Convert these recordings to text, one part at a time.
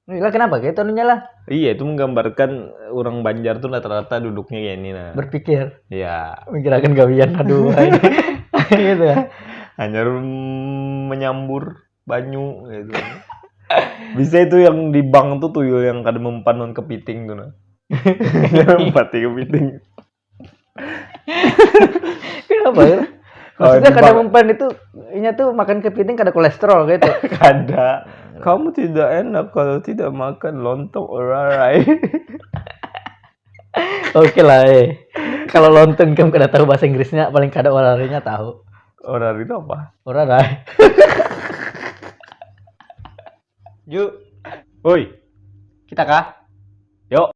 Lah kenapa kayak itu anunya lah? Iya itu menggambarkan eh, orang Banjar tuh rata-rata duduknya kayak ini nah. Berpikir, Ya, menggerakkan gawian, aduh. gitu ya. hanya mm, menyambur banyu gitu. Bisa itu yang di bank tuh tuyul yang kada mempan non kepiting tuh nah. Empati kepiting. Kenapa ya? Maksudnya kada mempan itu inya tuh makan kepiting kada kolesterol gitu. Kada. Kamu tidak enak kalau tidak makan lontong orarai. Oke lah eh. Kalau lontong kamu kada tahu bahasa Inggrisnya, paling kada orarinya tahu. Orari itu apa? Orarai. Ju. Woi. Kita kah? Yuk.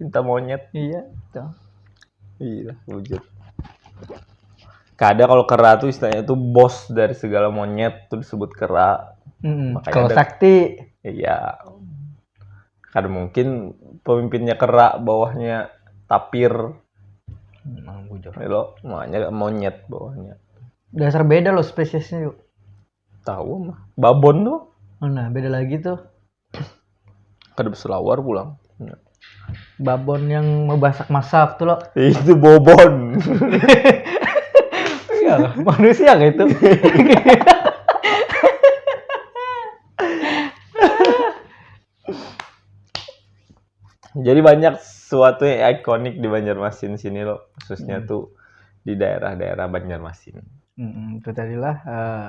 cinta monyet iya tuh iya wujud kada kalau kera tuh istilahnya tuh bos dari segala monyet tuh disebut kera hmm, kalau ada, sakti iya kada mungkin pemimpinnya kera bawahnya tapir Emang bujur. Lo makanya monyet bawahnya. Dasar beda lo spesiesnya yuk. Tahu mah. Babon tuh. Nah beda lagi tuh. kada berselawar pulang babon yang mabasak masak tuh lo itu bobon ya, manusia kayak itu jadi banyak suatu yang ikonik di Banjarmasin sini lo khususnya hmm. tuh di daerah-daerah Banjarmasin hmm, itu tadilah uh,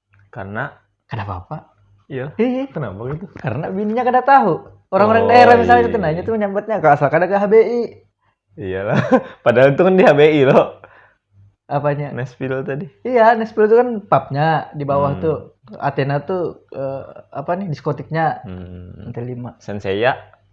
Karena Kada apa-apa. iya, Hihi. kenapa gitu? Karena bininya kada tahu. Orang-orang Oh, daerah misalnya iya. itu nanya tuh menyambatnya kalau asal kada ke HBI. Iyalah. Padahal itu kan di HBI loh. Apanya? Nashville tadi. Iya, Nashville itu kan pubnya di bawah Hmm. tuh. Athena tuh eh, apa nih diskotiknya Hmm. lantai lima. Sensei ya.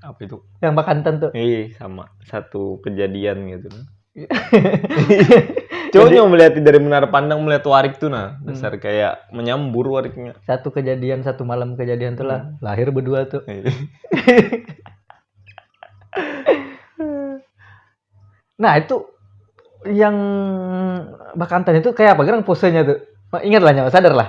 apa itu yang bakantan tuh iya sama satu kejadian gitu coba yang melihat dari menara pandang melihat warik tuh nah besar hmm. kayak menyambur wariknya satu kejadian satu malam kejadian tuh lah hmm. lahir berdua tuh iya. nah itu yang bakantan itu kayak apa gerang posenya tuh ingat lah nyawa sadar lah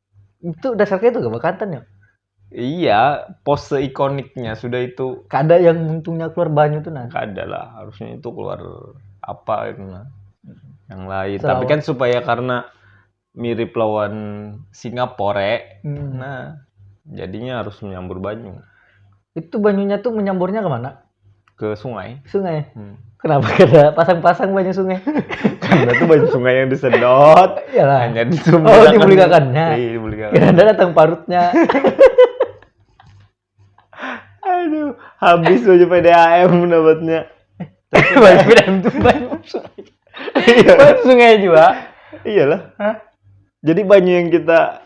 itu dasar kayak itu gak bekantan ya iya pose ikoniknya sudah itu kada yang untungnya keluar banyu tuh nah kada lah harusnya itu keluar apa itu nah yang lain Sarawak. tapi kan supaya karena mirip lawan Singapore hmm. nah jadinya harus menyambur banyu itu banyunya tuh menyamburnya kemana ke sungai. Sungai. Hmm. Kenapa kada pasang-pasang banyu sungai? Karena tuh banyu sungai yang disedot. Iyalah. Hanya di Oh, dibulikakannya. Iya, dibulikakan. Kira ada datang parutnya. Aduh, habis baju PDAM dapatnya. Baju PDAM tuh banyu sungai. Iya. Banyu sungai juga. Iyalah. Hah? Jadi banyu yang kita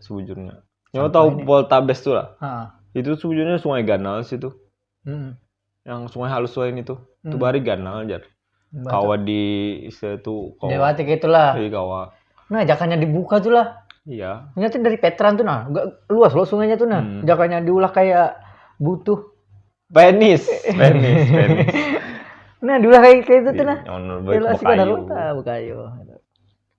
sebujurnya nyawa tahu ini? Poltabes tuh lah ha. itu sebujurnya sungai ganal situ hmm. yang sungai halus lain itu hmm. itu bari ganal aja kawa di istilah itu kawa dewati gitulah iya kawa nah jakannya dibuka tuh lah iya ini tuh dari Petran tuh nah gak luas loh sungainya tuh nah hmm. jakannya diulah kayak butuh penis penis penis nah diulah kayak kayak itu tuh nah iya, yang belas kayu bukan kayu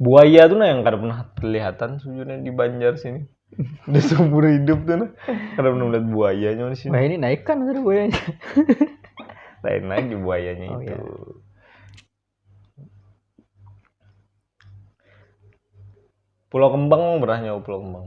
buaya tuh nah yang kada pernah kelihatan sebenarnya di Banjar sini udah seumur hidup tuh nah kada pernah melihat buayanya di sini nah ini naik kan ada buayanya lain lagi buayanya oh, itu iya. Pulau Kembang pernah nyawa Pulau Kembang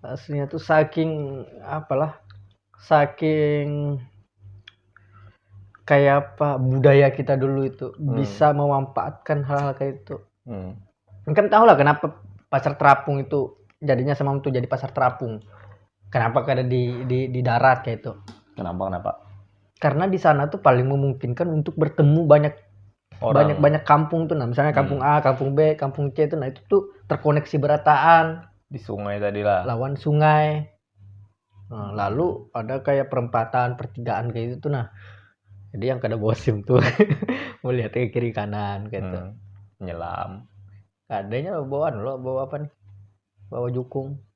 aslinya tuh saking apalah saking kayak apa budaya kita dulu itu hmm. bisa memanfaatkan hal-hal kayak itu hmm. kan tahu lah kenapa pasar terapung itu jadinya sama tuh jadi pasar terapung kenapa kada di, di di darat kayak itu kenapa kenapa karena di sana tuh paling memungkinkan untuk bertemu banyak banyak banyak kampung tuh nah misalnya kampung hmm. A kampung B kampung C tuh nah itu tuh terkoneksi berataan di sungai tadi lah lawan sungai nah, lalu ada kayak perempatan pertigaan kayak gitu tuh nah jadi yang kada bosim tuh melihat ke kiri kanan gitu hmm. nyelam adanya bawaan lo bawa apa nih bawa jukung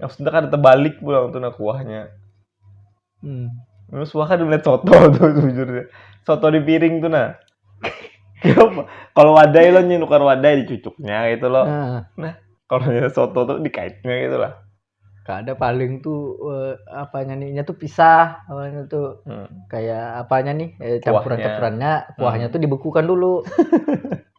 maksudnya kada terbalik pulang tuh nah kuahnya hmm. Terus wah kada melihat soto tuh sejujurnya soto di piring tuh nah kalau wadai lo nyinukar wadai dicucuknya gitu loh nah, nah kalau soto tuh dikaitnya gitu lah ada paling tuh uh, apanya nih tuh pisah awalnya tuh hmm. kayak apanya nih eh, campuran campurannya kuahnya hmm. tuh dibekukan dulu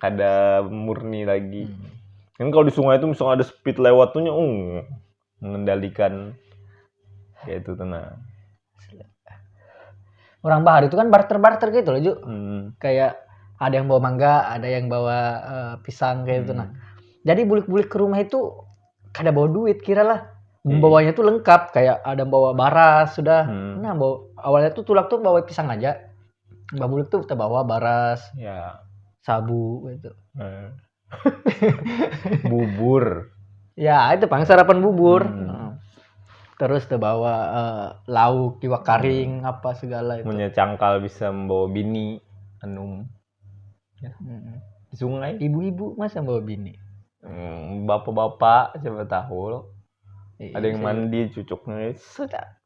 kada murni lagi hmm. kan kalau di sungai itu misalnya ada speed lewat tuh um, mengendalikan kayak itu tenang orang bahar itu kan barter barter gitu loh Ju hmm. kayak ada yang bawa mangga ada yang bawa uh, pisang kayak gitu, hmm. itu nah jadi bulik-bulik ke rumah itu kada bawa duit kira lah iya. membawanya tuh lengkap kayak ada bawa bara sudah hmm. nah bawa awalnya tuh tulak tuh bawa pisang aja Babulik tuh terbawa baras, ya. sabu gitu. Eh. bubur. Ya, itu paling sarapan bubur. Hmm. Terus terbawa uh, lauk, iwak karing, hmm. apa segala itu. Punya cangkal bisa membawa bini, anum. Ya. Hmm. Sungai. Ibu-ibu masa membawa bini? Hmm, bapak-bapak siapa tahu. Iya, ada yang mandi cucuknya. Sudah.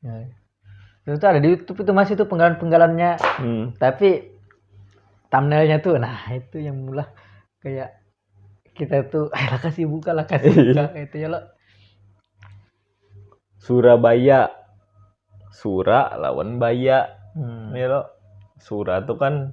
ya. itu tuh ada di YouTube itu masih tuh penggalan penggalannya hmm. tapi thumbnailnya tuh nah itu yang mulai kayak kita tuh eh lah kasih buka lah kasih buka iya. itu ya lo Surabaya Sura lawan Baya hmm. ya lo Sura tuh kan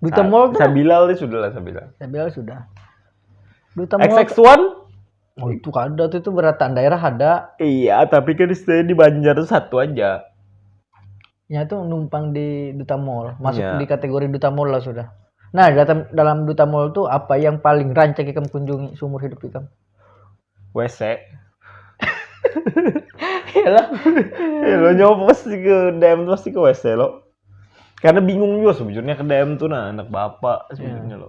Duta Mall tuh. Sabilal deh sudah lah Sabilal. Sabilal sudah. Duta Mall. XX One. Oh itu kada tuh itu berataan daerah ada. Iya, tapi kan saya di Banjar tuh satu aja. Ya tuh numpang di Duta Mall, masuk ya. di kategori Duta Mall lah sudah. Nah, dalam dalam Duta Mall tuh apa yang paling rancak ikam kunjungi seumur hidup ikam? WC. ya lah. ya lo nyoba pasti ke DM tuh pasti ke WC lo. Karena bingung juga sebenarnya ke DM tuh nah anak bapak sebenarnya yeah. lo.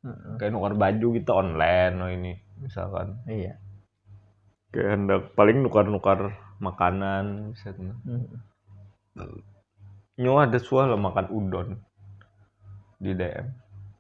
Hmm. Kayak nukar baju gitu online lo ini misalkan. Iya. Kayak hendak paling nukar-nukar makanan misalnya. Hmm. Nyo ada suah lo makan udon di DM.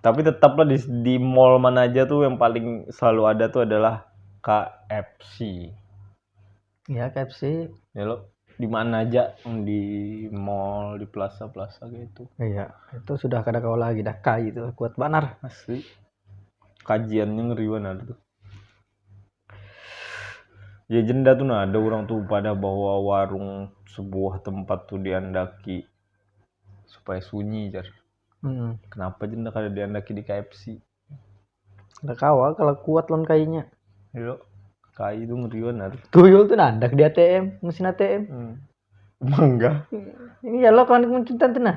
tapi tetap lah di, di mall mana aja tuh yang paling selalu ada tuh adalah KFC ya KFC ya lo di mana aja di mall di plaza plaza gitu iya itu sudah kada kau lagi dah kai itu kuat banar asli kajiannya ngeri banar tuh Ya jenda tu nah ada orang tu padah bahwa warung sebuah tempat tu diandaki supaya sunyi jar. Hmm. Kenapa jenda kada diandaki di KFC? Ada kawa kalau kuat lawan kainya. Yo, kai itu ngeri benar. Tuyul tuh nandak di ATM, mesin ATM. Hmm. Mangga. Ini ya lo kawan kemuncutan tuh nah.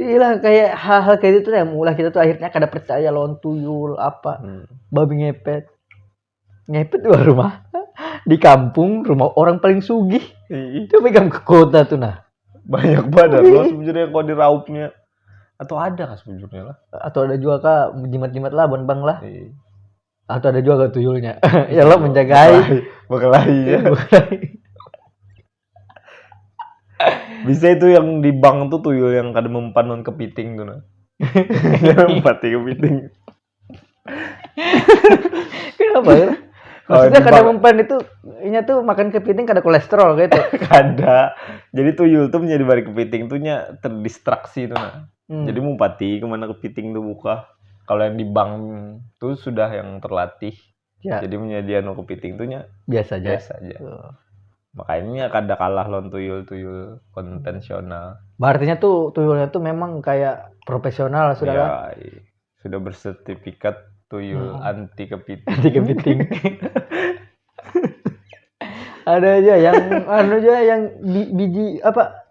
Iyalah kayak hal-hal kayak gitu yang mulai kita tuh akhirnya kada percaya lawan tuyul apa hmm. babi ngepet ngepet dua rumah di kampung rumah orang paling sugih iya. itu megang ke kota tuh nah banyak banget loh iya. sebenarnya kalau di raupnya atau ada kan sebenarnya lah atau ada juga kak jimat-jimat lah bang bang lah iya. atau ada juga kak tuyulnya ya lo menjagai bekelahi ya Bisa itu yang di bank tuh tuyul yang kada mempan non kepiting tuh nah. Jangan empati kepiting. Kenapa ya? Oh, Maksudnya di kada bang- mempan itu inya tuh makan kepiting kada kolesterol gitu. Kada. Jadi tuyul tuh menjadi bari kepiting tuh nya terdistraksi tuh nah. Hmm. Jadi mumpati kemana kepiting tuh buka. Kalau yang di bank tuh sudah yang terlatih. Ya. Jadi punya dia nu kepiting tuh nya Biasa aja. biasa aja. Tuh. Makanya kada kalah lawan tuyul-tuyul konvensional. Berartinya tuh tuyulnya tuh memang kayak profesional lah sudah lah. Ya, iya. sudah bersertifikat tuyul Hmm. anti kepiting. Nanti kepiting. Ada aja yang anu aja yang bi- biji apa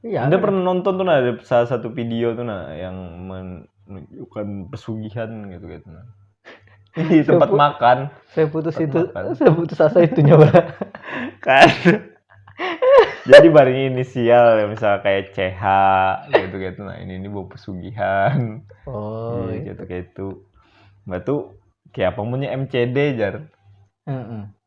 Iya. Anda pernah nonton tuh nah ada salah satu video tuh nah yang menunjukkan pesugihan gitu gitu nah. Di tempat Sepu- makan. Saya putus Tempat itu, makan. saya putus asa itu nyawa. kan jadi bareng inisial ya misal kayak CH gitu gitu nah ini ini bawa pesugihan Oh, Iya, gitu kayak itu mbak tuh kayak apa punya MCD jar Heeh.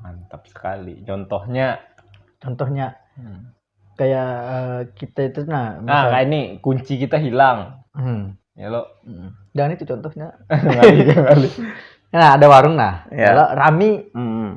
mantap sekali contohnya contohnya hmm. kayak uh, kita itu nah misal, nah kayak ini kunci kita hilang hmm. ya lo hmm. dan itu contohnya nah ada warung nah ya. lo rami hmm.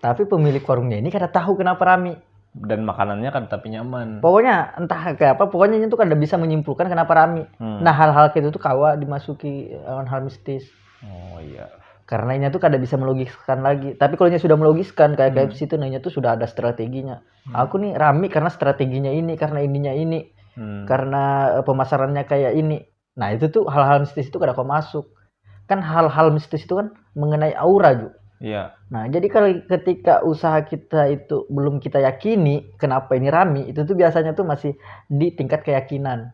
tapi pemilik warungnya ini kada tahu kenapa rami dan makanannya kan tapi nyaman. Pokoknya entah kayak apa, pokoknya itu kan bisa menyimpulkan kenapa rami. Hmm. Nah hal-hal kayak itu tuh kawa dimasuki lawan hal mistis. Oh iya. Karena inya tuh kada bisa melogiskan lagi. Tapi kalau inya sudah melogiskan kayak hmm. KFC itu nah inya tuh sudah ada strateginya. Hmm. Aku nih rame karena strateginya ini, karena ininya ini, hmm. karena eh, pemasarannya kayak ini. Nah, itu tuh hal-hal mistis itu kada kau masuk. Kan hal-hal mistis itu kan mengenai aura, juga. Iya. Nah, jadi kalau ketika usaha kita itu belum kita yakini kenapa ini rame, itu tuh biasanya tuh masih di tingkat keyakinan.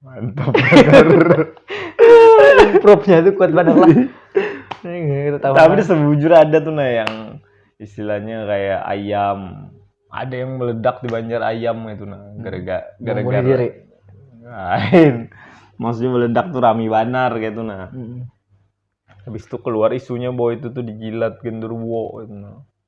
mantap propnya itu kuat banget lah iya, tapi sebujur ada tuh nah yang istilahnya kayak ayam ada yang meledak di Banjar ayam itu nah hmm. gara-gara gara-gara diri lain maksudnya meledak tuh rami banar kayak itu nah hmm. habis itu keluar isunya bahwa itu tuh dijilat genderuwo itu nah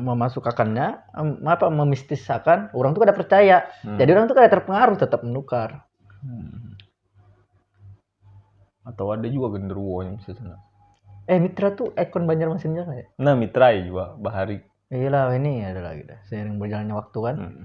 memasukakannya apa memistisakan orang tuh kada percaya hmm. jadi orang tuh kada terpengaruh tetap menukar hmm. atau ada juga genderuwo yang bisa sana eh mitra tuh ikon Banjarmasin juga ya nah mitra ya juga bahari iya lah ini ada lagi dah sering berjalannya waktu kan hmm.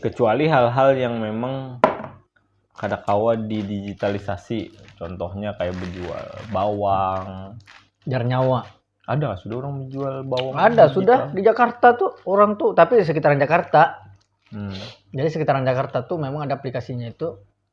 kecuali hal-hal yang memang kada kawa didigitalisasi contohnya kayak menjual bawang jar nyawa ada sudah orang menjual bawang ada sudah di Jakarta tuh orang tuh tapi di sekitaran Jakarta hmm. jadi sekitaran Jakarta tuh memang ada aplikasinya itu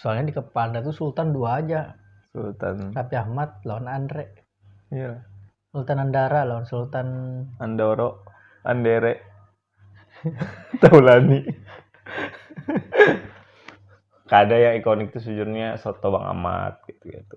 soalnya di kepala tuh Sultan dua aja Sultan Raffi Ahmad lawan Andre iya Sultan Andara lawan Sultan Andoro Andere Taulani kada yang ikonik tuh sejujurnya soto Bang Ahmad gitu gitu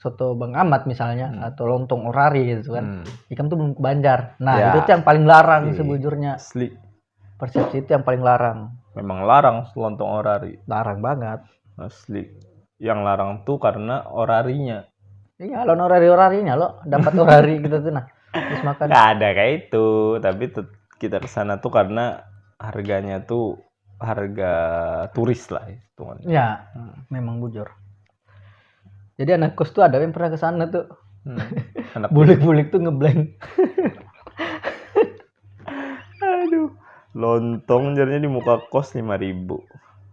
soto Bang Amat misalnya hmm. atau lontong orari gitu kan. Hmm. Ikam tuh belum ke Banjar. Nah, ya. itu tuh yang paling larang Asli. sebujurnya. Asli. Persepsi itu yang paling larang. Memang larang lontong orari. Larang banget. Asli. Yang larang tuh karena orarinya. Iya, lo orari orarinya lo dapat orari gitu tuh nah. Terus makan. Gak ada kayak itu, tapi kita ke sana tuh karena harganya tuh harga turis lah itu. Ya, hmm. memang bujur. Jadi anak kos tuh ada yang pernah ke sana tuh. Hmm. Anak bulik-bulik tuh ngeblank. Aduh. Lontong jadinya di muka kos lima ribu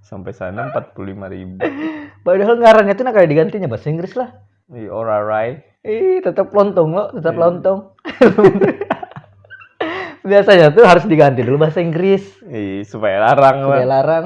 sampai sana empat puluh lima ribu. Padahal ngarannya tuh nak ada digantinya bahasa Inggris lah. Iya, alright. Ih, tetap lontong lo, tetap iya. lontong. biasanya tuh harus diganti dulu bahasa Inggris iya supaya larang supaya larang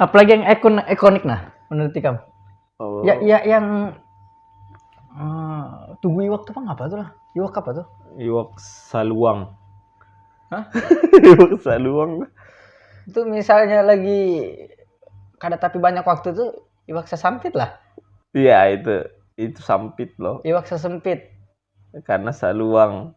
Apalagi yang ikon ikonik nah menurut ikam? Oh. Ya, ya yang uh, tugu iwak tuh apa tuh lah? Iwak apa tuh? Iwak saluang. Hah? iwak saluang. Itu misalnya lagi kada tapi banyak waktu tuh iwak sesampit lah. Iya itu itu sampit loh. Iwak sesempit. Karena saluang.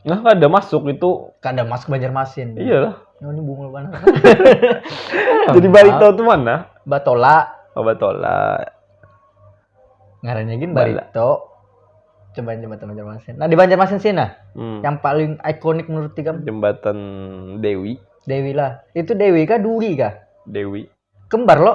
Nah, kada masuk itu. Kada masuk Banjarmasin. Iyalah. Oh, ini bungul mana? Jadi Barito itu mana? Batola. Oh, Batola. Ngarannya gin Barito. Coba jembatan Banjarmasin. Nah, di Banjarmasin sih nah. Hmm. Yang paling ikonik menurut tiga jembatan Dewi. Dewi lah. Itu Dewi kah Duri kah? Dewi. Kembar lo.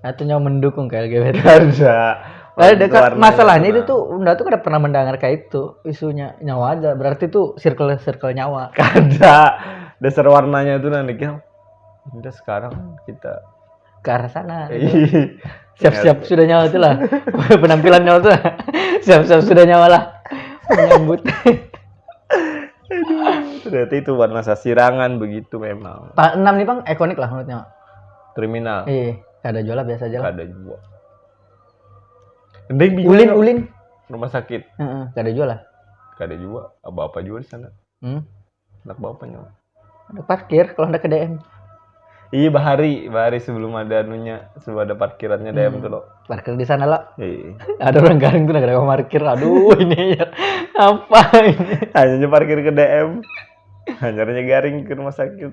Atau nyawa mendukung ke LGBT? Ada. Ada dekat Warnanya masalahnya itu pernah. tuh Unda tuh kada pernah mendengar kayak itu isunya nyawa ada berarti tuh circle circle nyawa Kada. Dasar warnanya tuh nanti kan. Udah sekarang kita ke arah sana Ih, siap-siap sudah nyawa tuh lah penampilan nyawa tuh lah. siap-siap sudah nyawa lah menyambut ternyata itu warna sasirangan begitu memang. tanggal 6 nih bang ikonik lah menurut nyawa Kriminal. Iya, kada jual lah biasa aja lah. Kada jua. Ding bingung Ulin, lo. ulin. Rumah sakit. Heeh, kada jual lah. Kada jua. Apa-apa jua di sana. Hmm. Anak bapak nyawa. Ada parkir kalau hendak ke DM. Iya bahari, bahari sebelum ada anunya, sebelum ada parkirannya DM tuh lo. Parkir di sana lah. Iya. Ada orang garing tuh negara parkir. Aduh, ini ya. Apa ini? Hanya parkir ke DM. Hanyarnya garing ke rumah sakit.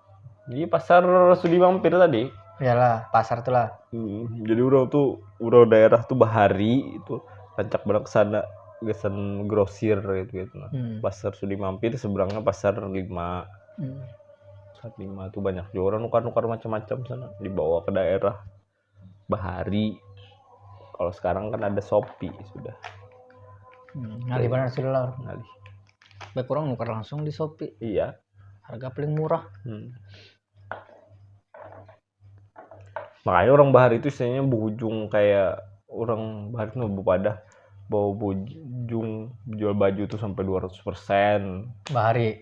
Jadi pasar Sudi Mampir tadi. Iyalah, pasar tuh lah. Hmm, jadi orang tuh orang daerah tuh bahari itu rancak badak sana gasan grosir gitu gitu. Hmm. Pasar Sudi Mampir seberangnya pasar lima. Hmm. Pasar lima tuh banyak juga orang nukar-nukar macam-macam sana dibawa ke daerah. bahari kalau sekarang kan ada Shopee sudah hmm, ngalih benar sih lah ngalih baik orang nukar langsung di Shopee iya harga paling murah hmm. makanya orang bahari itu istilahnya berujung kayak orang bahari itu pada bawa bujung jual baju tuh sampai 200% bahari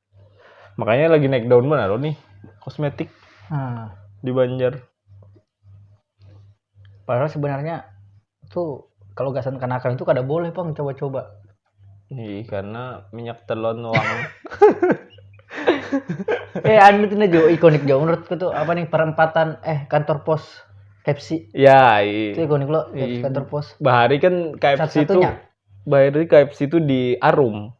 Makanya lagi naik daun mana nih kosmetik hmm. di Banjar. Padahal sebenarnya tuh kalau gasan kanakan itu kada boleh pang coba-coba. Iya, karena minyak telon wang. eh anu tuh jo ikonik jo menurutku tuh apa nih perempatan eh kantor pos Pepsi. Ya, iya. Itu ikonik lo iya. kantor pos. Bahari kan KFC itu. Bahari KFC itu di Arum.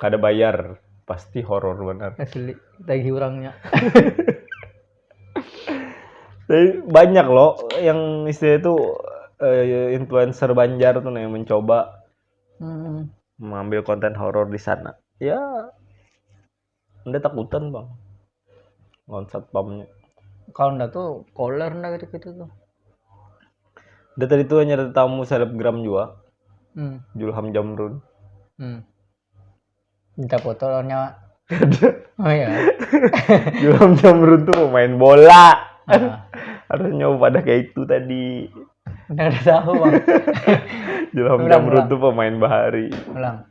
Kada bayar, pasti horor banar. Asli, tagih urangnya. Tapi banyak loh yang istilahnya itu eh, influencer Banjar tuh nah yang mencoba Hmm. mengambil konten horor di sana. Ya, Anda takutan bang lawan satpamnya kalau ndak tuh koler ndak gitu gitu tuh Anda tadi tuh hanya tamu selebgram juga hmm. Julham Jamrun hmm. minta foto lawan nyawa oh iya Julham Jamrun tuh pemain bola uh. harus nyoba pada kayak itu tadi Anda udah tahu bang Julham Jamrun tuh pemain bahari ulang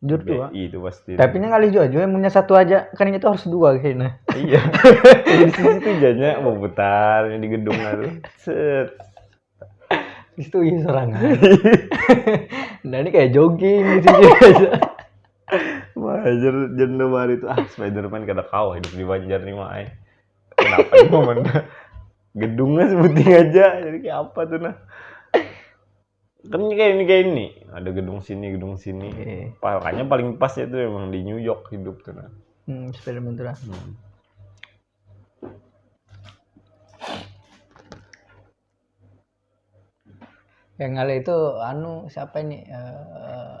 Jujur dua. BI itu pasti. Tapi ini ngalih jua jua punya satu aja kan itu harus dua kayaknya. Iya. Di sini tuh jadinya mau putar di gedung itu. Set. Di situ iya serangan. nah ini kayak jogging di sini aja. Wajar janda mari itu ah Spiderman kada kau hidup di Banjar nih mai. Kenapa di momen gedungnya sebuting aja jadi kayak apa tuh nah. kan kayak ini kayak ini ada gedung sini gedung sini yeah. makanya paling pas itu emang di New York hidup tuh nah hmm, Spiderman tuh lah hmm. yang ngale itu anu siapa ini uh,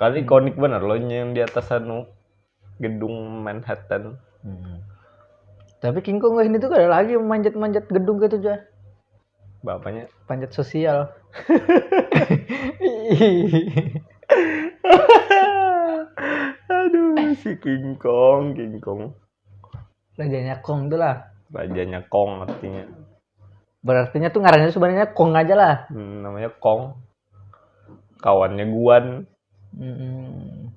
Kali konik bener loh yang di atas anu gedung Manhattan. Hmm. Tapi King Kong ini tuh gak ada lagi manjat-manjat gedung gitu aja. Bapaknya panjat sosial. Aduh, si King Kong, King Kong. Rajanya Kong tuh lah. Rajanya Kong artinya. Berartinya tuh ngarannya sebenarnya Kong aja lah. Hmm, namanya Kong. kawannya guan Mm-mm.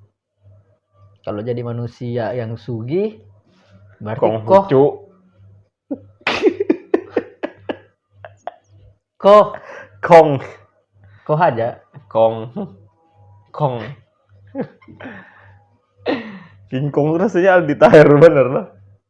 Kalau jadi manusia yang sugih, berarti kong koh, hucu koh, kong koh aja. kong kong King Kong tuh rasanya Aldi Taher bener lah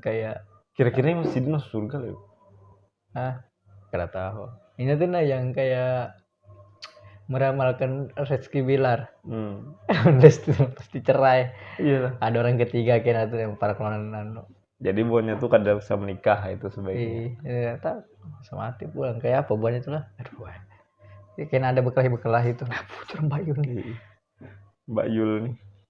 kayak kira-kira ini masih masuk surga loh ah kada tahu ini tuh nah yang kayak meramalkan rezeki bilar hmm. pasti cerai iya ada orang ketiga kena tuh yang para kelonan jadi buahnya tuh kada bisa menikah itu sebaiknya iya tak sama mati pulang kayak apa buahnya tuh lah aduh ya, kena ada bekelahi bekelahi itu nah putar mbak Yul nih iya. mbak Yul nih